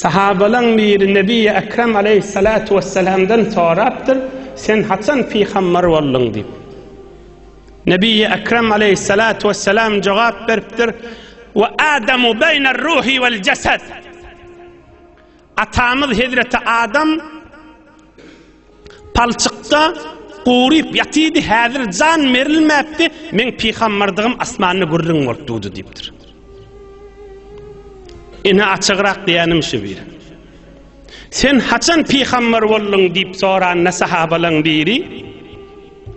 Sahabalaň biri Nebiýi Ekrem aleýhissalatu wessalamdan sorapdyr, Sen haçan pygambar bolduň? diýip. Nebiýi Ekrem aleýhissalatu wessalam jogap beripdir, Wa Adamu beýner ruhi wal jasad. Atamyz Hezreti Adam Palçykda guryp ýatydy, häzir jan berilmäpdi, meň pygambardygym asmanda gürrüň bolup durdy diýipdir. Ine açygrak diýenim şu bir. Sen haçan pygambar bolduň diýip soranda sahabalaň biri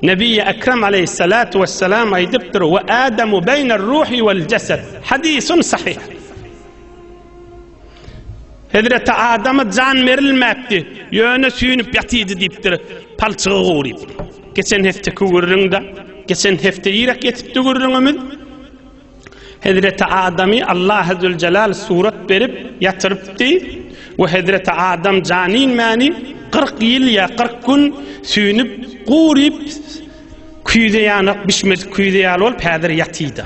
Nebiýi Ekrem aleyhissalatu vesselam aýdypdyr we Adamu beýner ruhi vel jasad. Hadisun sahih. Hezreti Adama jan berilmäpdi, ýöne süýnüp ýatydy diýipdir, palçygy guryp. Geçen hefteki gürrüňde, geçen hepde ýerek ýetipdi gürrüňimiz. Hezreti Adamy Allah Azze Jalal surat berip ýatyrypdy we Hezreti Adam jan inmäni 40 ýyl ýa 40 gün süýnüp, guryp, küýze ýanak bişmedik küýze ýaly bolup häzir ýatydy.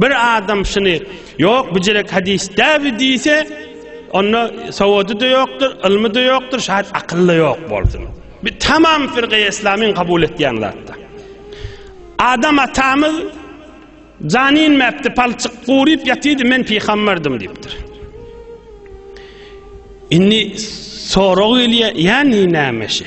Bir adam şuny, Ýok, bu jerek hadys däbi diýse, onda sowady-da ýokdur, ylmy-da ýokdur, şaýat akyl-da ýok bolsun. Bir tamam firgaýy islamyň kabul etýän zatda. Adam atamyz jany inmäpdi, palçyk guryp ýatydy, men pygamberdim diýipdir. Indi sorag gelýär, ýa näme şe?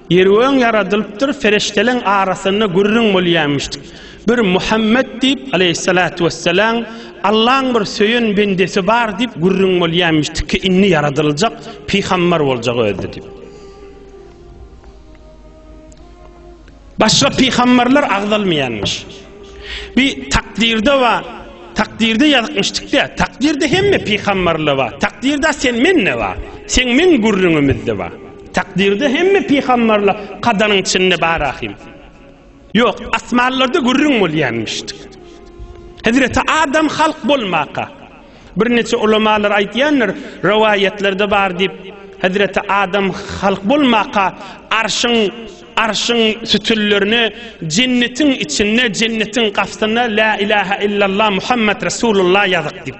Ýer öň ýaradylypdyr, perişdeleň arasynda gürrüň bolýarmyş. Bir Muhammet diýip, aleýhissalatu wessalam, Allaň bir söýen bendesi bar diýip gürrüň bolýarmyş ki, indi ýaradyljak, pygambar boljak özi diýip. Başga pygambarlar agzalmaýarmyş. Bi takdirde we takdirde ýazykmyşdykda, takdirde hemme pygambarlar bar. Takdirde sen men ne bar? Sen men gürrüňimizde bar. Takdyrda hemme pygamberler kadanyň içinde bar ahim. Yok asmanlarda gürrüň bolýanmyşdyk. Hezreti Adam halk bolmaka. Bir neçe ulamalar aýtýandyr, rowaýatlarda bar diýip, Hezreti Adam halk bolmaka arşyň arşyň sütüllerini jennetiň içinde jennetiň gapysyna la ilaha illallah Muhammed Resulullah ýazyk diýip.